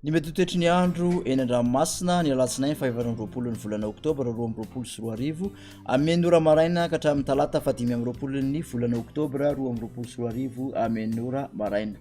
Ny mety ho toetry ny andro eny an-dranomasina ny alatsinainy fahefatra amby roapolo ny volana oktobra roa amby roapolo sy roa arivo amin'ny ora maraina ka hatramin'ny talata fahadimy amby roapolo ny volana oktobra roa amby roapolo sy roa arivo amin'ny ora maraina.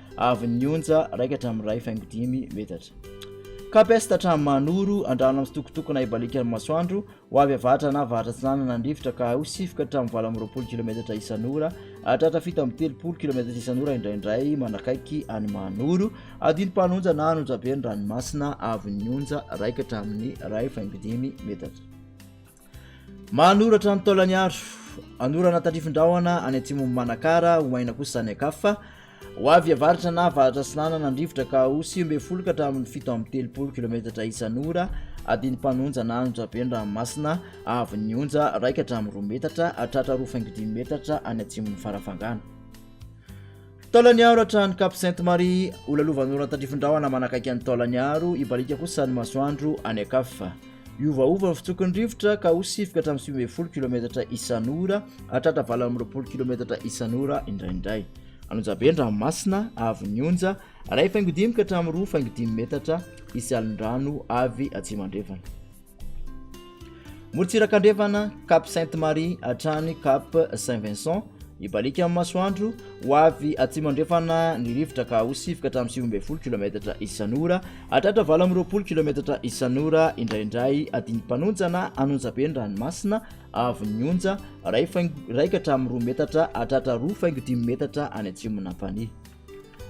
avy ny onja raika hatramin'ny iray faingo dimy metatra. Capest hatramin'ny Manoro, andrano amin'ny sitokotokona ibalikan'ny masoandro, ho avy avatra na avatra atsinanana ny rivotra ka ho sifoka hatramin'ny valo amby roapolo kilometatra isan'ora, hatratra fito amby telopolo kilometatra isan'ora indraindray manakaiky any Manoro, adinimpanonja na anonjabe ny ranomasina avy ny onja raika hatramin'ny iray faingo dimy metatra. Manoratra ny Taolaniaro, anorana tandrifin-drahona any atsimon'i Manakara, ho maina kosa any an-kafa, ho avy avaratra na avaratra atsinanana ny rivotra ka ho sivy ambin'ny folo ka hatramin'ny fito amby telopolo kilometatra isan'ora adin'ny mpanonja na anonja be ny ranomasina avy ny onja raika hatramin'ny roa metatra hatratra roa faingo dimy metatra any atsimon'ny farafangana. Taolaniaro hatrany Cap Sainte Marie, ho lalovan'orana tandrifin-drahona manakaiky an'i Taolaniaro, hibaliaka kosa ny masoandro any an-kafa. Hiovaova ny fitsoky ny rivotra ka ho sivoka hatramin'ny sivy ambin'ny folo kilometatra isan'ora hatratra valo amby roapolo kilometatra isan'ora indraindray. Anonjabe ny ranomasina avy ny onja, iray faingo dimy ka hatramin'ny roa faingo dimy metatra, hisy alin-drano avy atsimo andrefana. Morotsiraka andrefana, Cap Sainte Marie hatrany Cap Saint Vincent, ibaliaka amin'ny masoandro, ho avy atsimo andrefana ny rivotra ka ho sivoka hatramin'ny sivy ambin'ny folo kilometatra isan'ora, hatratra valo amby roapolo kilometatra isan'ora, indraindray adiny mpanonjana an'onjabe ny ranomasina, avon'ny onja, iray faingo iraika hatramin'ny roa metatra, hatratra roa faingo dimy metatra any atsimon'Ampanihy.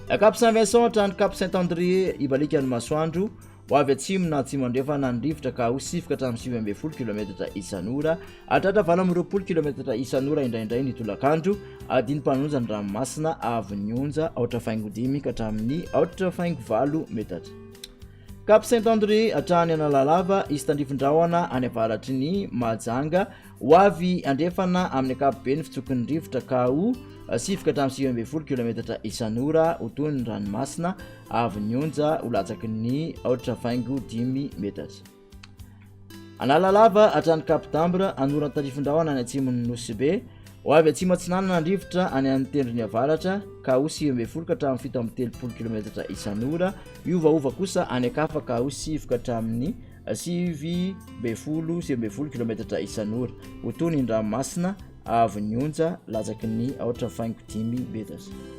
La Cape Saint Vincent hatrany Cape Saint André ibalikan'ny masoandro ho avy atsimo na atsimo andrefana ny rivotra ka ho sifoka hatramin'ny sivy ambin'ny folo kilometatra isan'ora hatratra valo amby roapolo kilometatra isan'ora indraindray ny tolakandro adiny mpanonja ny ranomasina avon'ny onja aotra faingo dimy ka hatramin'ny aotra faingo valo metatra Cape Saint André hatrany Analalava izy tandrifin-drahona any avaratry ny Mahajanga Ho avy andrefana amin'ny ankapobeny fitsoky ny rivotra ka ho sivoka hatramin'ny sivy ambin'ny folo kilometatra isan'ora ho toy ny ranomasina avy ny onja ho latsaky ny aotra faingo dimy metatra. Analalava hatrany Cap d'Ambre, anoran'ny tarifindrahona any atsimon'ny Nosy Be, ho avy atsimo atsinanana ny rivotra any amin'ny tendrony avaratra ka ho sivy ambin'ny folo ka hatramin'ny fito amby telopolo kilometatra isan'ora, hiovaova kosa any ankafa ka ho sivoka hatramin'ny Sivy ambin'ny folo, sivy ambin'ny folo kilometatra isan'ora. Ho toy ny ranomasina avy ny onja latsaky ny aotra faingo dimy metatra.